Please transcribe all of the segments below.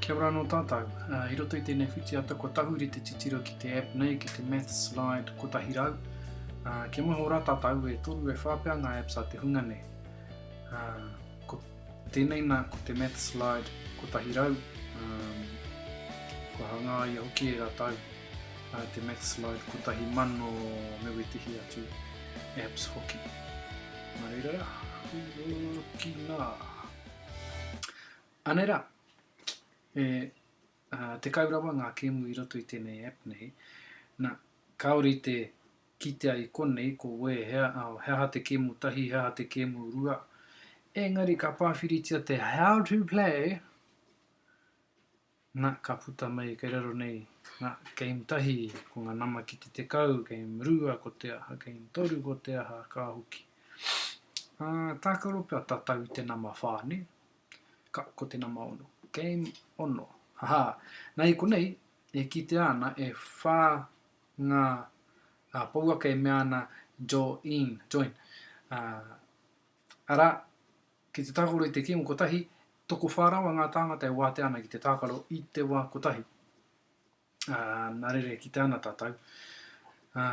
Kia ora anō tātou. I roto i tēnei whitiata kua tahuri te titiro ki te app nei, ki te Math Slide 100. Kia maha ora tātou e toru e whā pea ngā apps a te hunga nei. Ko tēnei nā, ko te Math Slide 100. Kua hangā ia hoki e rātou te Math Slide 1000 me wetihi atu apps hoki. Mā reira rā, ki nā. Anei rā, e 10 rawa ngā kēmu i roto i tēnei app nei. Nā, kāore i te kitea i konei ko wēhea, he aha te kēmu tahi, he aha te kēmu rua. Engari ka pāwhiritia te how to play, Nga, ka puta mai kei raro nei nga game tahi, ko nga nama ki te tekau, game rua ko te aha, game toru ko te aha, ka hoki. A, takaro pea tatau i te nama wha, ne? Ka, ko te nama ono. Game ono. Aha, na i konei, e kitea ana e wha nga a, pouaka e mea ana jo-in, join, a, ara, Ki te tākaro i te kīngo kotahi, tokowhā rawa ngā tāngata e wātea ana ki te tākaro i te wā kotahi. Ā, nā reira e kite ana tātou, ā,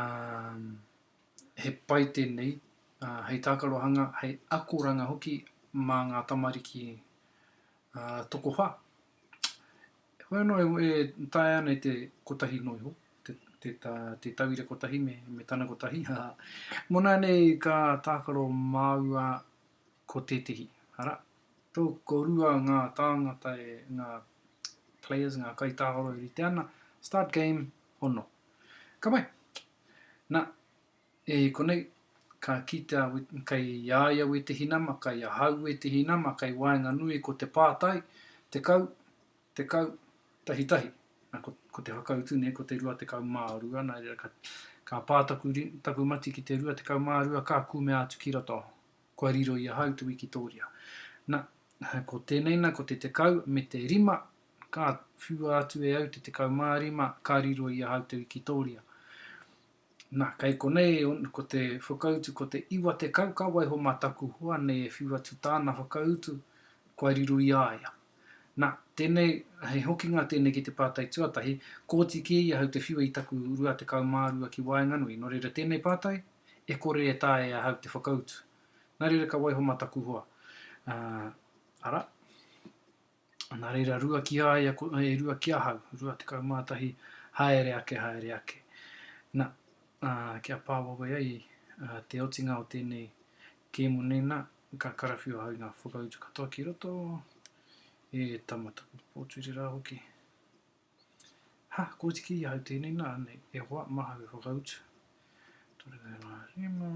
he pai tēnei, ā, hei tākarohanga, hei akoranga hoki mā ngā tamariki, ā, tokowhā. Hoi anō e, e taea ana i te kotahi noa iho, te, te, tā, te tauira kotahi me, me tana kotahi, ā, mō nāianei ka tākaro māua Ko tētehi, arā, tō korua ngā tāngata e, ngā players, ngā kaitāoro e rite ana, start game, hono. Ka pai. Nā, e konei, ka kitea kei a ia wētehi nama, kei ahau wētehi nama, kei waenganui ko te pātai, 10, Tekau, tahi tahi. Na, ko, ko te whakautu nei, ko te rua tekau mā rua, nā reira ka, ka pā taku, taku mati ki te rua tekau mā rua, ka kumea atu ki roto. Kua riro i ahau te wikitōria. Na, ko tēnei na, ko te tekau me te rima, ka whiua atu e au te tekau mā rima, ka riro i ahau te wikitōria. Nā, kei konei ko te whakautu ko te iwa tekau ka waiho mā taku hoa nei e whiu atu tāna whakautu kua riro i a ia. Nā, tēnei, he hokinga tēnei ki te pātai tuatahi, kōti kē i ahau te whiua i taku 22 ki waenganui, nō reira tēnei pātai, e kore e taea e ahau te whakautu. Nā reira ka waiho mā taku hoa. Ā, arā. Nā reira, rua ki a ia, e rua ki ahau, rua tekau mā tahi, haere ake, haere ake. Nā, ā, kia pā wawe ai ā, te otinga o tēnei kēmu nei, nā, ka karawhiu ahau i ngā whakautu katoa ki roto, e tama taku pōturi rā hoki. Ha, ko tiki i ahau tēnei, nā, nei, e hoa, mahau e whakautu. Tore rā rā rima.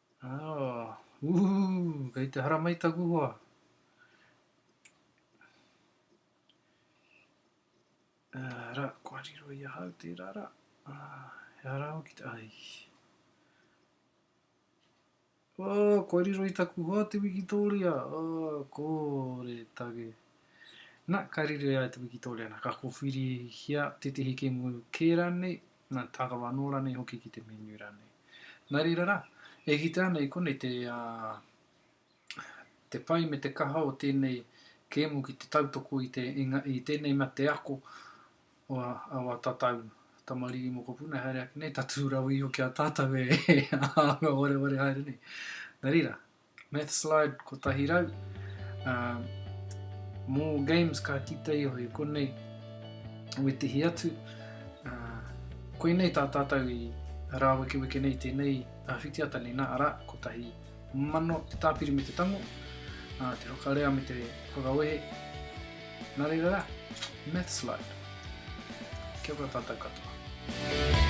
Ah, ooh, kei te haramai taku hoa. Ah, ra, kua riro i ahau tērā ra. Ah, he ara au ki te, ai. Oh, kua riro i taku hoa te wikitoria. Oh, kore take. Na, ka riro i ai te wikitoria, na, ka kowhiri hia tētehi kemu kērā nei, Nā, tākaro anō rānei hoki ki te menu rānei. Nā reira rā, e kitea ana i konei te, ā, te pai me te kaha o tēnei kēmu ki te tautoko i te, i ngā, i tēnei mate ako o aua tatau tamariki mokopuna, haere ake nei, tatū rawa iho ki a tātau e, e anga wareware haere nei. Nā reira, Mathslide 100. Ā, mō games ka kita i hoi konei, wetihi atu, ā, koinei tā tātou i rāwekeweke nei tēnei ā, whitiata nei nā, arā, kotahi mano te tāpiri me te tango, ā, te whakarea me te whakawehe, nā reira rā, Mathslide. Kia ora tātou katoa.